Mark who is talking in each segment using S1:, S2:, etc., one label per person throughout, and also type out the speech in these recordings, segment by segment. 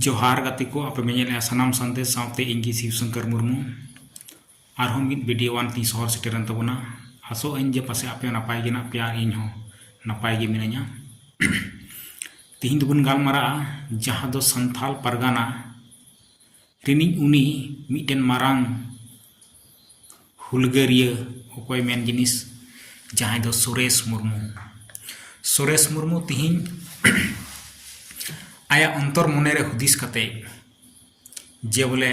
S1: ᱡᱚᱦᱟᱨ ᱜᱟᱛᱮ ᱠᱚ ᱟᱯᱮ ᱢᱮᱧᱮᱞ ᱮᱜᱼᱟ ᱥᱟᱱᱟᱢ ᱥᱟᱸᱫᱮᱥ ᱥᱟᱶᱛᱮ ᱤᱧ ᱜᱮ ᱥᱤᱵ ᱥᱚᱝᱠᱚᱨ ᱢᱩᱨᱢᱩ ᱟᱨᱦᱚᱸ ᱢᱤᱫ ᱵᱷᱤᱰᱤᱭᱳ ᱟᱱ ᱛᱤᱧ ᱥᱚᱦᱚᱨ ᱥᱮᱴᱮᱨᱮᱱ ᱛᱟᱵᱚᱱᱟ ᱟᱥᱚᱜ ᱟᱹᱧ ᱡᱮ ᱯᱟᱥᱮ ᱟᱯᱮ ᱱᱟᱯᱟᱭ ᱜᱮ ᱢᱮᱱᱟᱜ ᱯᱮᱭᱟ ᱤᱧ ᱦᱚᱸ ᱱᱟᱯᱟᱭ ᱜᱮ ᱢᱤᱱᱟᱹᱧᱟ ᱛᱤᱦᱤᱧ ᱫᱚᱵᱚᱱ ᱜᱟᱞᱢᱟᱨᱟᱜᱼᱟ ᱡᱟᱦᱟᱸ ᱫᱚ ᱥᱟᱱᱛᱟᱞ ᱯᱟᱨᱜᱟᱱᱟ ᱨᱤᱱᱤᱡ ᱩᱱᱤ ᱢᱤᱫᱴᱮᱱ ᱢᱟᱨᱟᱝ ᱦᱩᱞᱜᱟᱹᱨᱤᱭᱟᱹ ᱚᱠᱚᱭ ᱢᱮᱱ ᱡᱤᱱᱤᱥ ᱡᱟᱦᱟᱸᱭ ᱫᱚ ᱥᱩᱨᱮᱥ ᱢᱩᱨᱢᱩ ᱥᱩᱨᱮᱥ ᱢᱩᱨᱢᱩ ᱛᱤᱦᱤᱧ ᱟᱭᱟᱜ ᱚᱱᱛᱚᱨ ᱢᱚᱱᱮ ᱨᱮ ᱦᱩᱫᱤᱥ ᱠᱟᱛᱮ ᱡᱮ ᱵᱚᱞᱮ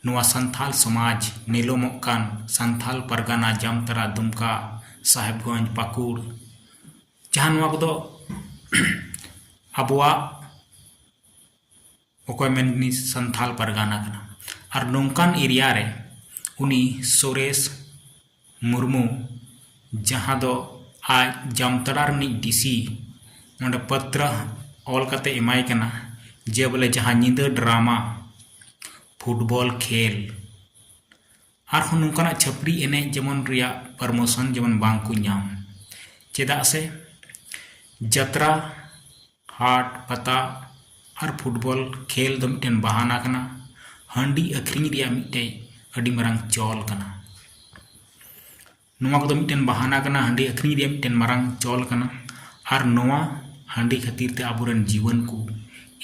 S1: ᱱᱚᱣᱟ ᱥᱟᱱᱛᱷᱟᱞ ᱥᱚᱢᱟᱡᱽ ᱱᱤᱞᱚᱢᱚᱜ ᱠᱟᱱ ᱥᱟᱱᱛᱷᱟᱞ ᱯᱟᱨᱜᱟᱱᱟ ᱡᱟᱢᱛᱟᱨᱟ ᱫᱩᱢᱠᱟ ᱥᱟᱦᱮᱵᱽᱜᱚᱸᱡᱽ ᱯᱟᱹᱠᱩᱲ ᱡᱟᱦᱟᱸ ᱱᱚᱣᱟ ᱠᱚᱫᱚ ᱟᱵᱚᱣᱟᱜ ᱚᱠᱚᱭ ᱢᱮᱱ ᱩᱱᱤ ᱥᱟᱱᱛᱷᱟᱞ ᱯᱟᱨᱜᱟᱱᱟ ᱠᱟᱱᱟ ᱟᱨ ᱱᱚᱝᱠᱟᱱ ᱮᱨᱤᱭᱟ ᱨᱮ ᱩᱱᱤ ᱥᱩᱨᱮᱥ ᱢᱩᱨᱢᱩ ᱡᱟᱦᱟᱸ ᱫᱚ ᱟᱡ ᱡᱟᱢᱛᱟᱲᱟ ᱨᱤᱱᱤᱡ ᱰᱤ ᱥᱤ ᱱᱚᱰᱮ ᱯᱟᱛᱨᱟ ᱚᱞ ᱠᱟᱛᱮ ᱮᱢᱟᱭ ᱠᱟᱱᱟ ᱡᱮ ᱵᱚᱞᱮ ᱡᱟᱦᱟᱸ ᱧᱤᱫᱟᱹ ᱰᱨᱟᱢᱟ ᱯᱷᱩᱴᱵᱚᱞ ᱠᱷᱮᱞ ᱟᱨᱦᱚᱸ ᱱᱚᱝᱠᱟᱱᱟᱜ ᱪᱷᱟᱹᱯᱨᱤ ᱮᱱᱮᱡ ᱡᱮᱢᱚᱱ ᱨᱮᱭᱟᱜ ᱯᱟᱨᱢᱳᱥᱚᱱ ᱡᱮᱢᱚᱱ ᱵᱟᱝ ᱠᱚ ᱧᱟᱢ ᱪᱮᱫᱟᱜ ᱥᱮ ᱡᱟᱛᱨᱟ ᱦᱟᱴ ᱯᱟᱛᱟ ᱟᱨ ᱯᱷᱩᱴᱵᱚᱞ ᱠᱷᱮᱞ ᱫᱚ ᱢᱤᱫᱴᱮᱱ ᱵᱟᱦᱟᱱᱟ ᱠᱟᱱᱟ ᱦᱟᱺᱰᱤ ᱟᱹᱠᱷᱨᱤᱧ ᱨᱮᱭᱟᱜ ᱢᱤᱫᱴᱮᱱ ᱟᱹᱰᱤ ᱢᱟᱨᱟᱝ ᱪᱚᱞ ᱠᱟᱱᱟ ᱱᱚᱣᱟ ᱠᱚᱫᱚ ᱢᱤᱫᱴᱮᱱ ᱵᱟᱦᱟᱱᱟ ᱠᱟᱱᱟ ᱦᱟᱺᱰᱤ ᱟᱹᱠᱷᱨᱤᱧ ᱨᱮᱭᱟᱜ ᱢᱤᱫᱴᱮᱱ ᱢᱟᱨᱟᱝ ᱪᱚᱞ ᱠᱟᱱᱟ ᱟᱨ ᱱᱚᱣᱟ ᱦᱟᱺᱰᱤ ᱠᱷᱟᱹᱛᱤᱨ ᱛᱮ ᱟᱵᱚᱨᱮᱱ ᱡᱩᱣᱟᱹᱱ ᱠᱚ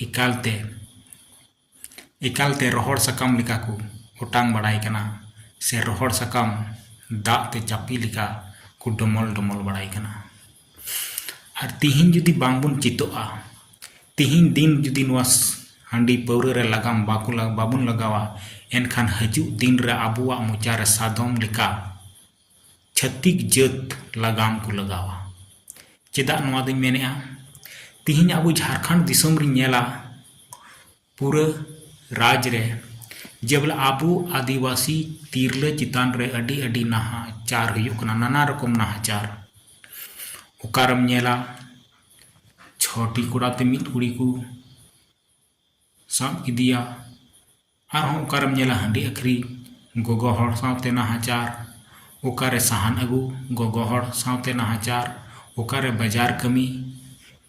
S1: ᱮᱠᱟᱞ ᱛᱮ ᱮᱠᱟᱞᱛᱮ ᱨᱚᱦᱚᱲ ᱥᱟᱠᱟᱢ ᱞᱮᱠᱟ ᱠᱚ ᱚᱴᱟᱝ ᱵᱟᱲᱟᱭ ᱠᱟᱱᱟ ᱥᱮ ᱨᱚᱦᱚᱲ ᱥᱟᱠᱟᱢ ᱫᱟᱜ ᱛᱮ ᱪᱟᱯᱮ ᱞᱮᱠᱟ ᱠᱚ ᱰᱚᱢᱚᱞ ᱰᱚᱢᱚᱞ ᱵᱟᱲᱟᱭ ᱠᱟᱱᱟ ᱟᱨ ᱛᱤᱦᱤᱧ ᱡᱩᱫᱤ ᱵᱟᱝ ᱵᱚᱱ ᱪᱮᱫᱚᱜᱼᱟ ᱛᱤᱦᱤᱧ ᱫᱤᱱ ᱡᱩᱫᱤ ᱱᱚᱣᱟ ᱦᱟᱺᱰᱤ ᱯᱟᱹᱣᱨᱟᱹ ᱨᱮ ᱞᱟᱜᱟᱢ ᱵᱟᱠᱚ ᱵᱟᱵᱚᱱ ᱞᱟᱜᱟᱣᱟ ᱮᱱᱠᱷᱟᱱ ᱦᱤᱡᱩᱜ ᱫᱤᱱ ᱨᱮ ᱟᱵᱚᱣᱟᱜ ᱢᱚᱪᱟ ᱨᱮ ᱥᱟᱫᱚᱢ ᱞᱮᱠᱟ ᱪᱷᱟᱹᱛᱤᱠ ᱡᱟᱹᱛ ᱞᱟᱜᱟᱢ ᱠᱚ ᱞᱟᱜᱟᱣᱟ ᱪᱮᱫᱟᱜ ᱱᱚᱣᱟ ᱫᱚᱹᱧ ᱢᱮᱱᱮᱫᱼᱟ ᱛᱮᱦᱮᱧ ᱟᱵᱚ ᱡᱷᱟᱲᱠᱷᱚᱸᱰ ᱫᱤᱥᱚᱢ ᱨᱮᱧ ᱧᱮᱞᱟ ᱯᱩᱨᱟᱹ ᱨᱟᱡᱽ ᱨᱮ ᱡᱮ ᱵᱚᱞᱮ ᱟᱵᱚ ᱟᱹᱫᱤᱵᱟᱹᱥᱤ ᱛᱤᱨᱞᱟᱹ ᱪᱮᱛᱟᱱ ᱨᱮ ᱟᱹᱰᱤ ᱟᱹᱰᱤ ᱱᱟᱦᱟᱪᱟᱨ ᱦᱩᱭᱩᱜ ᱠᱟᱱᱟ ᱱᱟᱱᱟ ᱨᱚᱠᱚᱢ ᱱᱟᱦᱟᱪᱟᱨ ᱚᱠᱟᱨᱮᱢ ᱧᱮᱞᱟ ᱪᱷᱚᱴᱤ ᱠᱚᱲᱟᱛᱮ ᱢᱤᱫ ᱠᱩᱲᱤ ᱠᱚ ᱥᱟᱵ ᱠᱮᱫᱮᱭᱟ ᱟᱨᱦᱚᱸ ᱚᱠᱟᱨᱮᱢ ᱧᱮᱞᱟ ᱦᱟᱺᱰᱤ ᱟᱹᱠᱷᱨᱤᱧ ᱜᱚᱜᱚ ᱦᱚᱲ ᱥᱟᱶᱛᱮ ᱱᱟᱦᱟᱪᱟᱨ ᱚᱠᱟᱨᱮ ᱥᱟᱦᱟᱱ ᱟᱹᱜᱩ ᱜᱚᱜᱚ ᱦᱚᱲ ᱥᱟᱶᱛᱮ ᱱᱟᱦᱟᱪᱟᱨ ᱚᱠᱟᱨᱮ ᱵᱟᱡᱟᱨ ᱠᱟᱹᱢᱤ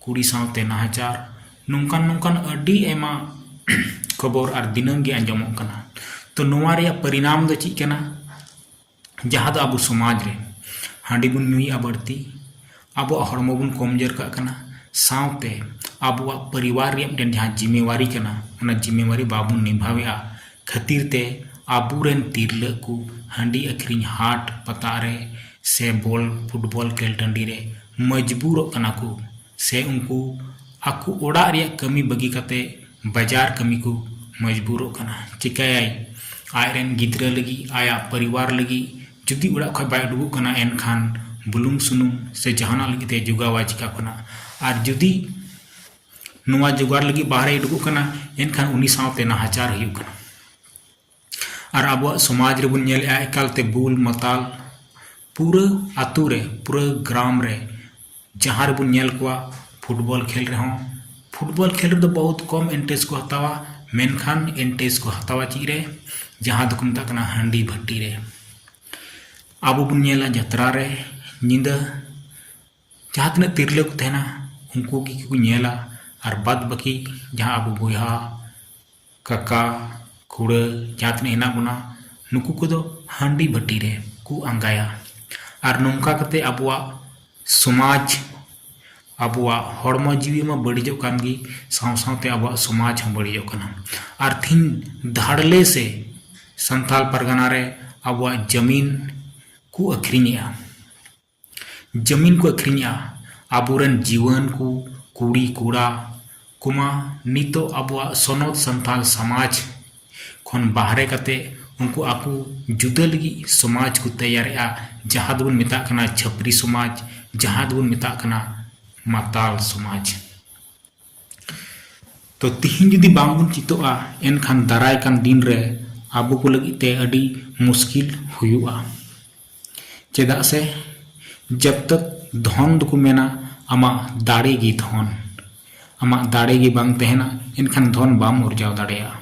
S1: ᱠᱩᱲᱤ ᱥᱟᱶᱛᱮ ᱱᱟᱦᱟᱪᱟᱨ ᱱᱚᱝᱠᱟᱱ ᱱᱚᱝᱠᱟᱱ ᱟᱹᱰᱤ ᱟᱭᱢᱟ ᱠᱷᱚᱵᱚᱨ ᱟᱨ ᱫᱤᱱᱟᱹᱢ ᱜᱮ ᱟᱸᱡᱚᱢᱚᱜ ᱠᱟᱱᱟ ᱛᱚ ᱱᱚᱣᱟ ᱨᱮᱭᱟᱜ ᱯᱚᱨᱤᱱᱟᱢ ᱫᱚ ᱪᱮᱫ ᱠᱟᱱᱟ ᱡᱟᱦᱟᱸ ᱫᱚ ᱟᱵᱚ ᱥᱚᱢᱟᱡᱽ ᱨᱮ ᱦᱟᱺᱰᱤ ᱵᱚᱱ ᱧᱩᱭᱮᱜᱼᱟ ᱵᱟᱹᱲᱛᱤ ᱟᱵᱚᱣᱟᱜ ᱦᱚᱲᱢᱚ ᱵᱚᱱ ᱠᱚᱢᱡᱳᱨ ᱠᱟᱜ ᱠᱟᱱᱟ ᱥᱟᱶᱛᱮ ᱟᱵᱚᱣᱟᱜ ᱯᱚᱨᱤᱵᱟᱨ ᱨᱮᱭᱟᱜ ᱢᱤᱫᱴᱮᱱ ᱡᱟᱦᱟᱸ ᱡᱤᱢᱮᱣᱟᱨᱤ ᱠᱟᱱᱟ ᱚᱱᱟ ᱡᱤᱢᱮᱣᱟᱨᱤ ᱵᱟᱵᱚᱱ ᱱᱤᱵᱷᱟᱣᱮᱜᱼᱟ ᱠᱷᱟᱹᱛᱤᱨ ᱛᱮ ᱟᱵᱚ ᱨᱮᱱ ᱛᱤᱨᱞᱟᱹ ᱠᱚ ᱦᱟᱺᱰᱤ ᱟᱹᱠᱷᱨᱤᱧ ᱦᱟᱴ ᱯᱟᱛᱟ ᱨᱮ ᱥᱮ ᱵᱚᱞ ᱯᱷᱩᱴᱵᱚᱞ ᱠᱷᱮᱞ ᱴᱟᱺᱰᱤ ᱨᱮ ᱢᱚᱡᱽᱵᱩᱨᱚᱜ ᱠᱟᱱᱟ ᱠᱚ ᱥᱮ ᱩᱱᱠᱩ ᱟᱠᱚ ᱚᱲᱟᱜ ᱨᱮᱭᱟᱜ ᱠᱟᱹᱢᱤ ᱵᱟᱹᱜᱤ ᱠᱟᱛᱮ ᱵᱟᱡᱟᱨ ᱠᱟᱹᱢᱤ ᱠᱚ ᱢᱚᱡᱽᱵᱩᱨᱚᱜ ᱠᱟᱱᱟ ᱪᱤᱠᱟᱹᱭᱟᱭ ᱟᱡ ᱨᱮᱱ ᱜᱤᱫᱽᱨᱟᱹ ᱞᱟᱹᱜᱤᱫ ᱟᱭᱟᱜ ᱯᱚᱨᱤᱵᱟᱨ ᱞᱟᱹᱜᱤᱫ ᱡᱩᱫᱤ ᱚᱲᱟᱜ ᱠᱷᱚᱱ ᱵᱟᱭ ᱩᱰᱩᱠᱚᱜ ᱠᱟᱱᱟ ᱮᱱᱠᱷᱟᱱ ᱵᱩᱞᱩᱝ ᱥᱩᱱᱩᱢ ᱥᱮ ᱡᱟᱦᱟᱱᱟᱜ ᱞᱟᱹᱜᱤᱫ ᱛᱮ ᱡᱳᱜᱟᱣᱟᱭ ᱪᱤᱠᱟᱹ ᱠᱷᱚᱱᱟᱜ ᱟᱨ ᱡᱩᱫᱤ ᱱᱚᱣᱟ ᱡᱳᱜᱟᱲ ᱞᱟᱹᱜᱤᱫ ᱵᱟᱦᱨᱮᱭ ᱩᱰᱩᱠᱚᱜ ᱠᱟᱱᱟ ᱮᱱᱠᱷᱟᱱ ᱩᱱᱤ ᱥᱟᱶᱛᱮ ᱱᱟᱦᱟᱪᱟᱨ ᱦᱩᱭᱩᱜ ᱠᱟᱱᱟ ᱟᱨ ᱟᱵᱚᱣᱟᱜ ᱥᱚᱢᱟᱡᱽ ᱨᱮᱵᱚᱱ ᱧᱮᱞᱮᱜᱼᱟ ᱮᱠᱟᱞ ᱛᱮ ᱵᱩᱞ ᱢᱟᱛᱟᱞ ᱯᱩᱨᱟᱹ ᱟᱛᱳ ᱨᱮ ᱯᱩᱨᱟᱹ ᱜᱨᱟᱢ ᱨᱮ ᱡᱟᱦᱟᱸ ᱨᱮᱵᱚᱱ ᱧᱮᱞ ᱠᱚᱣᱟ ᱯᱷᱩᱴᱵᱚᱞ ᱠᱷᱮᱞ ᱨᱮᱦᱚᱸ ᱯᱷᱩᱴᱵᱚᱞ ᱠᱷᱮᱞ ᱨᱮᱫᱚ ᱵᱚᱦᱩᱛ ᱠᱚᱢ ᱤᱱᱴᱟᱨᱮᱥᱴ ᱠᱚ ᱦᱟᱛᱟᱣᱟ ᱢᱮᱱᱠᱷᱟᱱ ᱤᱱᱴᱟᱨᱮᱥᱴ ᱠᱚ ᱦᱟᱛᱟᱣᱟ ᱪᱮᱫ ᱨᱮ ᱡᱟᱦᱟᱸ ᱫᱚᱠᱚ ᱢᱮᱛᱟᱜ ᱠᱟᱱᱟ ᱦᱟᱺᱰᱤ ᱵᱷᱟᱹᱴᱤ ᱨᱮ ᱟᱵᱚ ᱵᱚᱱ ᱧᱮᱞᱟ ᱡᱟᱛᱨᱟ ᱨᱮ ᱧᱤᱫᱟᱹ ᱡᱟᱦᱟᱸ ᱛᱤᱱᱟᱹᱜ ᱛᱤᱨᱞᱟᱹ ᱠᱚ ᱛᱟᱦᱮᱱᱟ ᱩᱱᱠᱩ ᱜᱮᱠᱚ ᱧᱮᱞᱟ ᱟᱨ ᱵᱟᱫᱽ ᱵᱟᱹᱠᱤ ᱡᱟᱦᱟᱸ ᱟᱵᱚ ᱵᱚᱭᱦᱟ ᱠᱟᱠᱟ ᱠᱷᱩᱲᱟᱹ ᱡᱟᱦᱟᱸ ᱛᱤᱱᱟᱹᱜ ᱦᱮᱱᱟᱜ ᱵᱚᱱᱟ ᱱᱩᱠᱩ ᱠᱚᱫᱚ ᱦᱟᱺᱰᱤ ᱵᱷᱟᱹᱴᱤ ᱨᱮ ᱠᱚ ᱟᱸᱜᱟᱭᱟ ᱟᱨ ᱱᱚᱝᱠᱟ ᱠᱟᱛᱮ ᱟᱵᱚᱣᱟᱜ ᱥᱚᱢᱟᱡᱽ ᱟᱵᱚᱣᱟᱜ ᱦᱚᱲᱢᱚ ᱡᱤᱣᱤ ᱢᱟ ᱵᱟᱹᱲᱤᱡᱚᱜ ᱠᱟᱱ ᱜᱮ ᱥᱟᱶ ᱥᱟᱶᱛᱮ ᱟᱵᱚᱣᱟᱜ ᱥᱚᱢᱟᱡᱽ ᱦᱚᱸ ᱵᱟᱹᱲᱤᱡᱚᱜ ᱠᱟᱱᱟ ᱟᱨ ᱛᱮᱦᱮᱧ ᱫᱷᱟᱲᱞᱮ ᱥᱮ ᱥᱟᱱᱛᱟᱲ ᱯᱟᱨᱜᱟᱱᱟ ᱨᱮ ᱟᱵᱚᱣᱟᱜ ᱡᱟᱹᱢᱤᱱ ᱠᱚ ᱟᱹᱠᱷᱨᱤᱧᱮᱜᱼᱟ ᱡᱟᱹᱢᱤᱱ ᱠᱚ ᱟᱹᱠᱷᱨᱤᱧᱮᱜᱼᱟ ᱟᱵᱚ ᱨᱮᱱ ᱡᱩᱣᱟᱹᱱ ᱠᱚ ᱠᱩᱲᱤ ᱠᱚᱲᱟ ᱠᱚᱢᱟ ᱱᱤᱛᱚᱜ ᱟᱵᱚᱣᱟᱜ ᱥᱚᱱᱚᱛ ᱥᱟᱱᱛᱟᱞ ᱥᱚᱢᱟᱡᱽ ᱠᱷᱚᱱ ᱵᱟᱦᱨᱮ ᱠᱟᱛᱮ ᱩᱱᱠᱩ ᱟᱠᱚ ᱡᱩᱫᱟᱹ ᱞᱟᱹᱜᱤᱫ ᱥᱚᱢᱟᱡᱽ ᱠᱚ ᱛᱮᱭᱟᱨᱮᱜᱼᱟ ᱡᱟᱦᱟᱸ ᱫᱚᱵᱚᱱ ᱢᱮᱛᱟᱜ ᱠᱟᱱᱟ ᱪᱷᱟᱹᱯᱨᱤ ᱥᱚᱢᱟᱡᱽ ᱡᱟᱦᱟᱸ ᱫᱚᱵᱚᱱ ᱢᱮᱛᱟᱜ ᱠᱟᱱᱟ ᱢᱟᱛᱟᱞ ᱥᱚᱢᱟᱡᱽ ᱛᱚ ᱛᱤᱦᱤᱧ ᱡᱩᱫᱤ ᱵᱟᱝ ᱵᱚᱱ ᱪᱤᱛᱚᱜᱼᱟ ᱮᱱᱠᱷᱟᱱ ᱫᱟᱨᱟᱭ ᱠᱟᱱ ᱫᱤᱱ ᱨᱮ ᱟᱵᱚ ᱠᱚ ᱞᱟᱹᱜᱤᱫ ᱛᱮ ᱟᱹᱰᱤ ᱢᱩᱥᱠᱤᱞ ᱦᱩᱭᱩᱜᱼᱟ ᱪᱮᱫᱟᱜ ᱥᱮ ᱡᱚᱵ ᱛᱚᱠ ᱫᱷᱚᱱ ᱫᱚᱠᱚ ᱢᱮᱱᱟ ᱟᱢᱟᱜ ᱫᱟᱲᱮ ᱜᱮ ᱫᱷᱚᱱ ᱟᱢᱟᱜ ᱫᱟᱲᱮ ᱜᱮ ᱵᱟᱝ ᱛᱟᱦᱮᱱᱟ ᱮᱱᱠᱷᱟᱱ ᱫᱷᱚᱱ ᱵᱟᱢ ᱟᱨᱡᱟᱣ ᱫᱟᱲᱮᱭᱟᱜᱼᱟ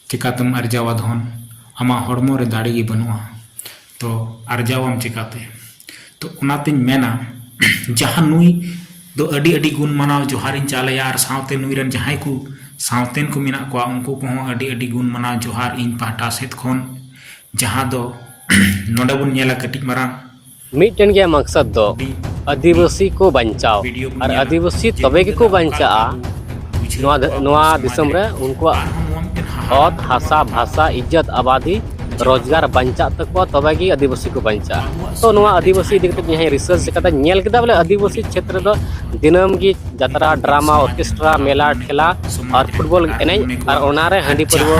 S1: ᱪᱮᱠᱟᱛᱮᱢ ᱟᱨᱡᱟᱣᱟ ᱫᱷᱚᱱ? ᱟᱢᱟᱜ ᱦᱚᱲᱢᱚ ᱨᱮ ᱫᱟᱲᱮ ᱜᱮ ᱵᱟᱹᱱᱩᱜᱼᱟ ᱛᱚ ᱟᱨᱡᱟᱣᱟᱢ ᱪᱮᱠᱟᱛᱮ? ᱛᱚ ᱚᱱᱟ ᱛᱮᱧ ᱢᱮᱱᱟ ᱡᱟᱦᱟᱸ ᱱᱩᱭ ᱫᱚ ᱟᱹᱰᱤ ᱟᱹᱰᱤ ᱜᱩᱱ ᱢᱟᱱᱟᱣ ᱡᱚᱦᱟᱨ ᱤᱧ ᱪᱟᱞ ᱟᱭᱟ ᱟᱨ ᱥᱟᱶᱛᱮ ᱱᱩᱭ ᱨᱮᱱ ᱡᱟᱦᱟᱸᱭ ᱠᱚ ᱥᱟᱶᱛᱮᱱ ᱠᱚ ᱢᱮᱱᱟᱜ ᱠᱚᱣᱟ ᱩᱱᱠᱩ ᱠᱚᱦᱚᱸ ᱟᱹᱰᱤ ᱟᱹᱰᱤ ᱜᱩᱱ ᱢᱟᱱᱟᱣ ᱡᱚᱦᱟᱨ ᱤᱧ ᱯᱟᱦᱴᱟ ᱥᱮᱫ ᱠᱷᱚᱱ ᱡᱟᱦᱟᱸ ᱫᱚ ᱱᱚᱰᱮ ᱵᱚᱱ ᱧᱮᱞᱟ ᱠᱟᱹᱴᱤᱡ ᱢᱟᱨᱟᱝ ᱢᱤᱫᱴᱮᱱ ᱜᱮ ᱢᱟᱠᱥᱟᱫ ᱫᱚ ᱟᱹᱫᱤᱵᱟᱹᱥᱤ ᱠᱚ ᱵᱟᱧᱪᱟᱣ ᱟᱨ ᱟᱹᱫᱤᱵᱟᱹᱥᱤ ᱛᱚᱵᱮ ᱜᱮᱠᱚ ᱵᱟᱧᱪᱟᱜᱼᱟ ᱱᱚᱣᱟ ᱱᱚᱣᱟ ᱫᱤᱥᱚᱢ ᱨᱮ ᱩᱱᱠᱩᱣᱟᱜ ᱚᱛ ᱦᱟᱥᱟ ᱵᱷᱟᱥᱟ ᱤᱡᱽᱡᱚᱛ ᱟᱵᱟᱫᱤ ᱨᱳᱡᱽᱜᱟᱨ ᱵᱟᱧᱪᱟᱜ ᱛᱟᱠᱚᱣᱟ ᱛᱚᱵᱮ ᱜᱮ ᱟᱹᱫᱤᱵᱟᱹᱥᱤ ᱠᱚ ᱵᱟᱧᱪᱟᱜᱼᱟ ᱛᱚ ᱱᱚᱣᱟ ᱟᱹᱫᱤᱵᱟᱹᱥᱤ ᱤᱫᱤ ᱠᱟᱛᱮ ᱡᱟᱦᱟᱸᱭ ᱨᱤᱥᱟᱨᱪ ᱠᱟᱛᱮ ᱧᱮᱞ ᱠᱮᱫᱟ ᱵᱚᱞᱮ ᱟᱹᱫᱤᱵᱟᱹᱥᱤ ᱪᱷᱮᱛᱨᱚ ᱫᱚ ᱫᱤᱱᱟᱹᱢ ᱜᱮ ᱡᱟᱛᱨᱟ ᱰᱨᱟᱢᱟ ᱚᱨᱠᱮᱥᱴᱨᱟ ᱢᱮᱞᱟ ᱴᱷᱮᱞᱟ ᱟᱨ ᱯᱷᱩᱴᱵᱚᱞ ᱮᱱᱮᱡ ᱟᱨ ᱚᱱᱟᱨᱮ ᱦᱟᱺᱰᱤ ᱯᱟᱹᱨᱣᱟᱹ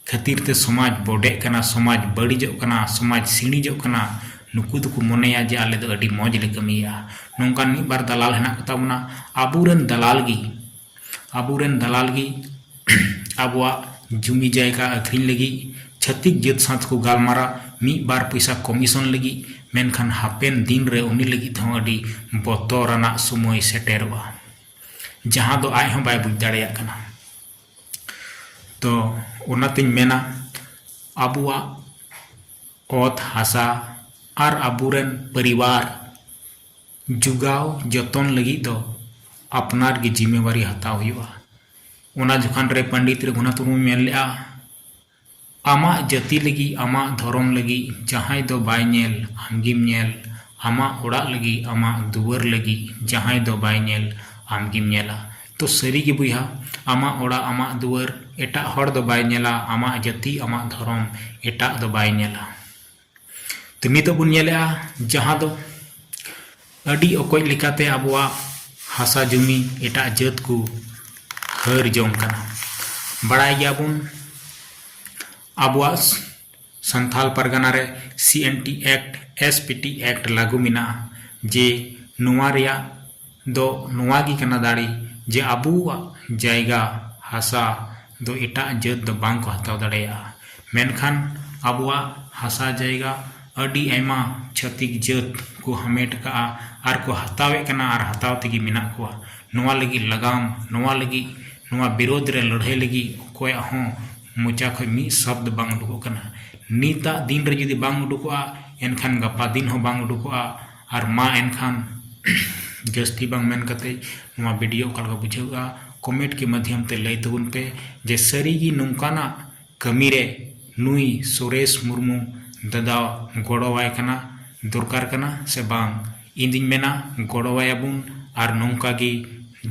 S1: ᱠᱷᱟᱹᱛᱤᱨ ᱛᱮ ᱥᱚᱢᱟᱡᱽ ᱵᱚᱰᱮᱜ ᱠᱟᱱᱟ ᱥᱚᱢᱟᱡᱽ ᱵᱟᱹᱲᱤᱡᱚᱜ ᱠᱟᱱᱟ ᱥᱚᱢᱟᱡᱽ ᱥᱤᱬᱤᱡᱚᱜ ᱠᱟᱱᱟ ᱱᱩᱠᱩ ᱫᱚᱠᱚ ᱢᱚᱱᱮᱭᱟ ᱡᱮ ᱟᱞᱮ ᱫᱚ ᱟᱹᱰᱤ ᱢᱚᱡᱽ ᱞᱮ ᱠᱟᱹᱢᱤᱭᱮᱫᱼᱟ ᱱᱚᱝᱠᱟᱱ ᱢᱤᱫ ᱵᱟᱨ ᱫᱟᱞᱟᱞ ᱦᱮᱱᱟᱜ ᱠᱚᱛᱟ ᱵᱚᱱᱟ ᱟᱵᱚ ᱨᱮᱱ ᱫᱟᱞᱟᱞ ᱜᱮ ᱟᱵᱚ ᱨᱮᱱ ᱫᱟᱞᱟᱞ ᱜᱮ ᱟᱵᱚᱣᱟᱜ ᱡᱩᱢᱤ ᱡᱟᱭᱜᱟ ᱟᱹᱠᱷᱨᱤᱧ ᱞᱟᱹᱜᱤᱫ ᱪᱷᱟᱹᱛᱤᱠ ᱡᱟᱹᱛ ᱥᱟᱶ ᱛᱮᱠᱚ ᱜᱟᱞᱢᱟᱨᱟᱜ ᱢᱤᱫ ᱵᱟᱨ ᱯᱚᱭᱥᱟ ᱠᱚᱢᱤᱥᱚᱱ ᱞᱟᱹᱜᱤᱫ ᱢᱮᱱᱠᱷᱟᱱ ᱦᱟᱯᱮᱱ ᱫᱤᱱ ᱨᱮ ᱩᱱᱤ ᱞᱟᱹᱜᱤᱫ ᱦᱚᱸ ᱟᱹᱰᱤ ᱵᱚᱛᱚᱨᱟᱱᱟᱜ ᱥᱚᱢᱚᱭ ᱥᱮᱴᱮᱨᱚᱜᱼᱟ ᱡᱟᱦᱟᱸ ᱫᱚ ᱟᱡ ᱦᱚᱸ ᱵᱟᱭ ᱵᱩᱡᱽ ᱫᱟᱲᱮᱭᱟᱜ ᱠᱟᱱᱟ ᱛᱚ ᱚᱱᱟᱛᱤᱧ ᱢᱮᱱᱟ ᱟᱵᱚᱣᱟᱜ ᱚᱛ ᱦᱟᱥᱟ ᱟᱨ ᱟᱵᱚᱨᱮᱱ ᱯᱚᱨᱤᱵᱟᱨ ᱡᱚᱜᱟᱣ ᱡᱚᱛᱚᱱ ᱞᱟᱹᱜᱤᱫ ᱫᱚ ᱟᱯᱱᱟᱨ ᱜᱮ ᱡᱤᱢᱟᱹᱫᱟᱨᱤ ᱦᱟᱛᱟᱣ ᱦᱩᱭᱩᱜᱼᱟ ᱚᱱᱟ ᱡᱚᱠᱷᱟᱱ ᱨᱮ ᱯᱚᱱᱰᱤᱛ ᱨᱚᱜᱷᱩᱱᱟᱛᱷ ᱢᱩᱨᱢᱩᱭ ᱢᱮᱱ ᱞᱮᱫᱼᱟ ᱟᱢᱟᱜ ᱡᱟᱹᱛᱤ ᱞᱟᱹᱜᱤᱫ, ᱟᱢᱟᱜ ᱫᱷᱚᱨᱚᱢ ᱞᱟᱹᱜᱤᱫ, ᱡᱟᱦᱟᱸᱭ ᱫᱚ ᱵᱟᱭ ᱧᱮᱞ, ᱟᱢᱜᱮᱢ ᱧᱮᱞ, ᱟᱢᱟᱜ ᱚᱲᱟᱜ ᱞᱟᱹᱜᱤᱫ, ᱟᱢᱟᱜ ᱫᱩᱣᱟᱹᱨ ᱞᱟᱹᱜᱤᱫ, ᱡᱟᱦᱟᱸᱭ ᱫᱚ ᱵᱟᱭ ᱧᱮᱞ, ᱟᱢᱜᱮᱢ ᱧᱮᱞᱟ᱾ ᱛᱚ ᱥᱟᱹᱨᱤ ᱜᱮ ᱵᱚᱭᱦᱟ, ᱟᱢᱟᱜ ᱚᱲᱟᱜ, ᱟᱢᱟᱜ ᱫᱩᱣᱟᱹᱨ, ᱮᱴᱟᱜ ᱦᱚᱲ ᱫᱚ ᱵᱟᱭ ᱧᱮᱞᱟ, ᱟᱢᱟᱜ ᱡᱟᱹᱛᱤ, ᱟᱢᱟᱜ ᱫᱷᱚᱨᱚᱢ, ᱮᱴᱟᱜ ᱫᱚ ᱵᱟᱭ ᱧᱮᱞᱟ᱾ ᱛᱚ ᱱᱤᱛᱚᱜ ᱵᱚᱱ ᱧᱮᱞᱮᱜᱼᱟ ᱡᱟᱦᱟᱸ ᱫᱚ ᱟᱹᱰᱤ ᱚᱠᱚᱡ ᱞᱮᱠᱟᱛᱮ ᱟᱵᱚᱣᱟᱜ ᱦᱟᱥᱟ ᱡᱩᱢᱤ ᱮᱴᱟᱜ ᱡᱟᱹᱛ ᱠᱚ ᱦᱟᱹᱨ ᱡᱚᱝ ᱠᱟᱱᱟ ᱵᱟᱲᱟᱭ ᱜᱮᱭᱟᱵᱚᱱ ᱟᱵᱚᱣᱟᱜ ᱥᱟᱱᱛᱷᱟᱞ ᱯᱟᱨᱜᱟᱱᱟ ᱨᱮ C N T act S P T act ᱞᱟᱹᱜᱩ ᱢᱮᱱᱟᱜᱼᱟ ᱡᱮ ᱱᱚᱣᱟ ᱨᱮᱭᱟᱜ ᱫᱚ ᱱᱚᱶᱟ ᱜᱮ ᱠᱟᱱᱟ ᱫᱟᱲᱮ ᱡᱮ ᱟᱵᱚᱣᱟᱜ ᱡᱟᱭᱜᱟ ᱦᱟᱥᱟ ᱫᱚ ᱮᱴᱟᱜ ᱡᱟᱹᱛ ᱫᱚ ᱵᱟᱝ ᱠᱚ ᱦᱟᱛᱟᱣ ᱫᱟᱲᱮᱭᱟᱜᱼᱟ ᱢᱮᱱᱠᱷᱟᱱ ᱟᱵᱚᱣᱟᱜ ᱦᱟᱥᱟ ᱡᱟᱭᱜᱟ ᱟᱹᱰᱤ ᱟᱭᱢᱟ ᱪᱷᱟᱹᱛᱤᱠ ᱡᱟᱹᱛ ᱠᱚ ᱦᱟᱢᱮᱴ ᱟᱠᱟᱫᱼᱟ ᱟᱨ ᱠᱚ ᱦᱟᱛᱟᱣᱮᱫ ᱠᱟᱱᱟ ᱟᱨ ᱦᱟᱛᱟᱣ ᱛᱮᱜᱮ ᱢᱮᱱᱟᱜ ᱠᱚᱣᱟ ᱱᱚᱶᱟ ᱞᱟᱹᱜᱤᱫ ᱞᱟᱜᱟᱢ ᱱᱚᱶᱟ ᱞᱟᱹᱜᱤᱫ ᱱᱚᱶᱟ ᱵᱤᱨᱳᱫᱷ ᱨᱮ ᱞᱟᱹᱲᱦᱟᱹᱭ ᱞᱟᱹᱜᱤᱫ ᱚᱠᱚᱭᱟᱜ ᱦᱚᱸ ᱢᱚᱪᱟ ᱠᱷᱚᱱ ᱢᱤᱫ ᱥᱚᱵᱫᱚ ᱵᱟᱝ ᱩᱰᱩᱠᱚᱜ ᱠᱟᱱᱟ ᱱᱤᱛᱟᱜ ᱫᱤᱱ ᱨᱮ ᱡᱩᱫᱤ ᱵᱟᱝ ᱩᱰᱩᱠᱚᱜᱼᱟ ᱮᱱᱠᱷᱟᱱ ᱜᱟᱯᱟ ᱫᱤᱱ ᱦᱚᱸ ᱵᱟᱝ ᱩᱰᱩᱠᱚᱜᱼᱟ ᱟᱨ ᱢᱟ ᱮᱱᱠᱷᱟᱱ ᱡᱟᱹᱥᱛᱤ ᱵᱟᱝ ᱢᱮᱱ ᱠᱟᱛᱮᱫ ᱱᱚᱣᱟ ᱵᱷᱤᱰᱤᱭᱳ ᱚᱠᱟ ᱞᱮᱠᱟ ᱵᱩᱡᱷᱟᱹᱣᱜᱼᱟ ᱠᱚᱢᱮᱱᱴ ᱠᱤ ᱢᱟᱫᱽᱫᱷᱚᱢ ᱛᱮ ᱞᱟᱹᱭ ᱛᱟᱵᱚᱱ ᱯᱮ ᱡᱮ ᱥᱟᱹᱨᱤ ᱜᱮ ᱱᱚᱝᱠᱟᱱᱟᱜ ᱠᱟᱹᱢᱤ ᱨᱮ ᱱᱩᱭ ᱥᱩᱨᱮᱥ ᱢᱩᱨᱢᱩ ᱫᱟᱫᱟ ᱜᱚᱲᱚ ᱟᱭ ᱠᱟᱱᱟ ᱫᱚᱨᱠᱟᱨ ᱠᱟᱱᱟ ᱥᱮ ᱵᱟᱝ ᱤᱧ ᱫᱩᱧ ᱢᱮᱱᱟ ᱜᱚᱲᱚ ᱟᱭᱟ ᱵᱚᱱ ᱟᱨ ᱱᱚᱝᱠᱟ ᱜᱮ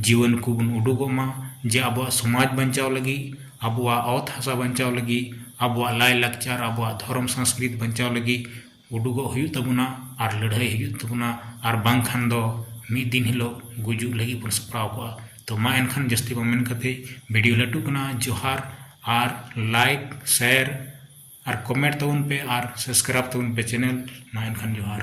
S1: ᱡᱩᱣᱟᱹᱱ ᱠᱚᱵᱚᱱ ᱩᱰᱩᱠᱚᱜ ᱢᱟ ᱡᱮ ᱟᱵᱚᱣᱟᱜ ᱥᱚᱢᱟᱡᱽ ᱵᱟᱧᱪᱟᱣ ᱞᱟᱹᱜᱤᱫ ᱟᱵᱚᱣᱟᱜ ᱚᱛ ᱦᱟᱥᱟ ᱵᱟᱧᱪᱟᱣ ᱞᱟᱹᱜᱤᱫ ᱟᱵᱚᱣᱟᱜ ᱞᱟᱭᱼᱞᱟᱠᱪᱟᱨ ᱟᱵᱚᱣᱟᱜ ᱫᱷᱚᱨᱚᱢ ᱥᱚᱝᱥᱠᱨᱤᱛ ᱵᱟᱧᱪᱟᱣ ᱞᱟᱹᱜᱤᱫ ᱩᱰᱩᱜᱚᱜ ᱦᱩᱭᱩᱜ ᱛᱟᱵᱚᱱᱟ ᱟᱨ ᱞᱟᱹᱲᱦᱟᱹᱭ ᱦᱩᱭᱩᱜ ᱛᱟᱵᱚᱱᱟ ᱟᱨ ᱵᱟᱝᱠᱷᱟᱱ ᱫᱚ ᱢᱤᱫ ᱫᱤᱱ ᱦᱤᱞᱳᱜ ᱜᱩᱡᱩᱜ ᱞᱟᱹᱜᱤᱫ ᱵᱚᱱ ᱥᱟᱯᱲᱟᱣ ᱠᱚᱜᱼᱟ ᱛᱚ ᱢᱟ ᱮᱱᱠᱷᱟᱱ ᱡᱟᱹᱥᱛᱤ ᱵᱟᱝ ᱢᱮᱱ ᱠᱟᱛᱮᱫ ᱵᱷᱤᱰᱤᱭᱳ ᱞᱟᱹᱴᱩᱜ ᱠᱟᱱᱟ ᱡᱚᱦᱟᱨ ᱟᱨ ᱞᱟᱭᱤᱠ ᱥᱮᱭᱟᱨ ᱟᱨ ᱠᱚᱢᱮᱱᱴ ᱛᱟᱵᱚᱱ ᱯᱮ ᱟᱨ ᱥᱟᱵᱥᱠᱨᱟᱭᱤᱵᱽ ᱛᱟᱵᱚᱱ ᱯᱮ ᱪᱮᱱᱮᱞ ᱢᱟ ᱮᱱᱠᱷᱟᱱ ᱡᱚᱦᱟᱨ